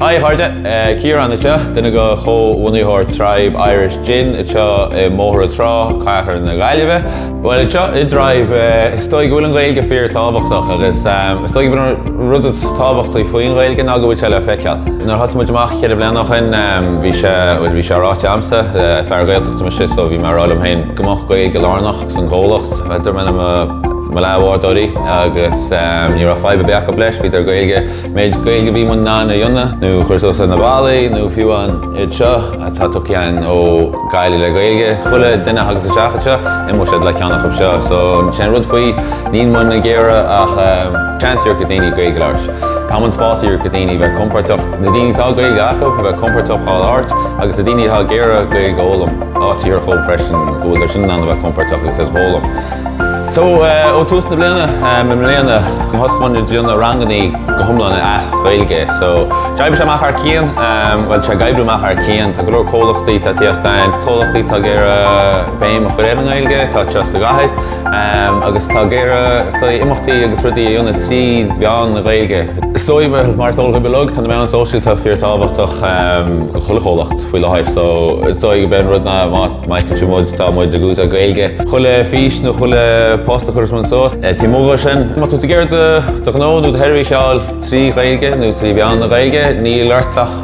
Hi, a chairde! Ciarán anseo, duine de chomhbhunaitheoir Tribe Irish Gin anseo i mBóthar na Trá, cathair na Gaillimhe. Bhuel, anseo i dTribe, is dóigh go bhfuil an Ghaeilge fíor-tábhachtach agus is dóigh go bhfuil an rud is tábhachtaí faoin Ghaeilge ná go bhfuil sé le feiceáil. Nuair a thosaigh muid amach ceithre bliana ó shin, bhí sé, bhuel, bhí sé ráite agamsa, fear Gaeltachta mise, so bhí mé ag rá liom féin go mbeadh Gaeilge lárnach. Sa gcomhlacht. Dúirt mé le mo leathbhádóirí agus ní raibh fadhb ar bith acu leis, bhíodar Gaeilge, méid Gaeilge a bhí muid in ann a dhéanamh nó a chur suas ar na ballaí nó fiú amháin iad seo atá tugtha dhúinn ó Gaillimh le Gaeilge, chuile duine a thagas isteach anseo, imeoidh siad le ceann acu seo so sin an rud faoi, níl muid ag iarraidh ach seans a thabhairt do dhaoine Gaeilge a labhairt. Tá muid spás a thabhairt do dhaoine a bheith compordach, na daoine atá Gaeilge acu a bheith compordach á labhairt agus na daoine atá ag iarraidh Gaeilge a fhoghlaim. Áit a thabhairt dhóibh freisin go bhfuil siad sin in ann a bheith compordach agus é a fhoghlaim. So, ó tús na bliana, i mbliana, thosaigh muid ag déanamh rangannaí go hiomlán as Gaeilge. So, d'oibrigh sé amach thar cionn, bhuel, tá sé ag oibriú amach thar cionn. Tá go leor comhlachtaí atá ag tíocht againn, comhlachtaí atá ag iarraidh béim a chur ar an nGaeilge, atá just sa gcathair. agus atá ag iarraidh, is dóigh, imeachtaí agus rudaí a dhéanamh trí mheán na Gaeilge. Is dóigh, mar is eol daoibh uilig, tá na meáin sóisialta fíor tábhachtach do chuile chomhlacht faoi láthair so is dóigh go b'é an rud ná má fheiceann sibh muid tá muid ag úsáid Gaeilge chuile fís nó chuile post a chuireas muid suas. Taobh amuigh dhó sin, má tá tú ag iarraidh do ghnó nó do sheirbhís a fháil trí Ghaeilge nó trí mheán na Gaeilge níl ort ach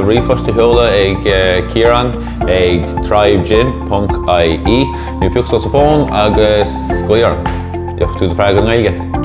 ríomhphost a sheoladh ag Ciarán ag tribegin.ie. Nó pioc suas an fón agus glaoigh orm, gheobhaidh tú do freagra i nGaeilge.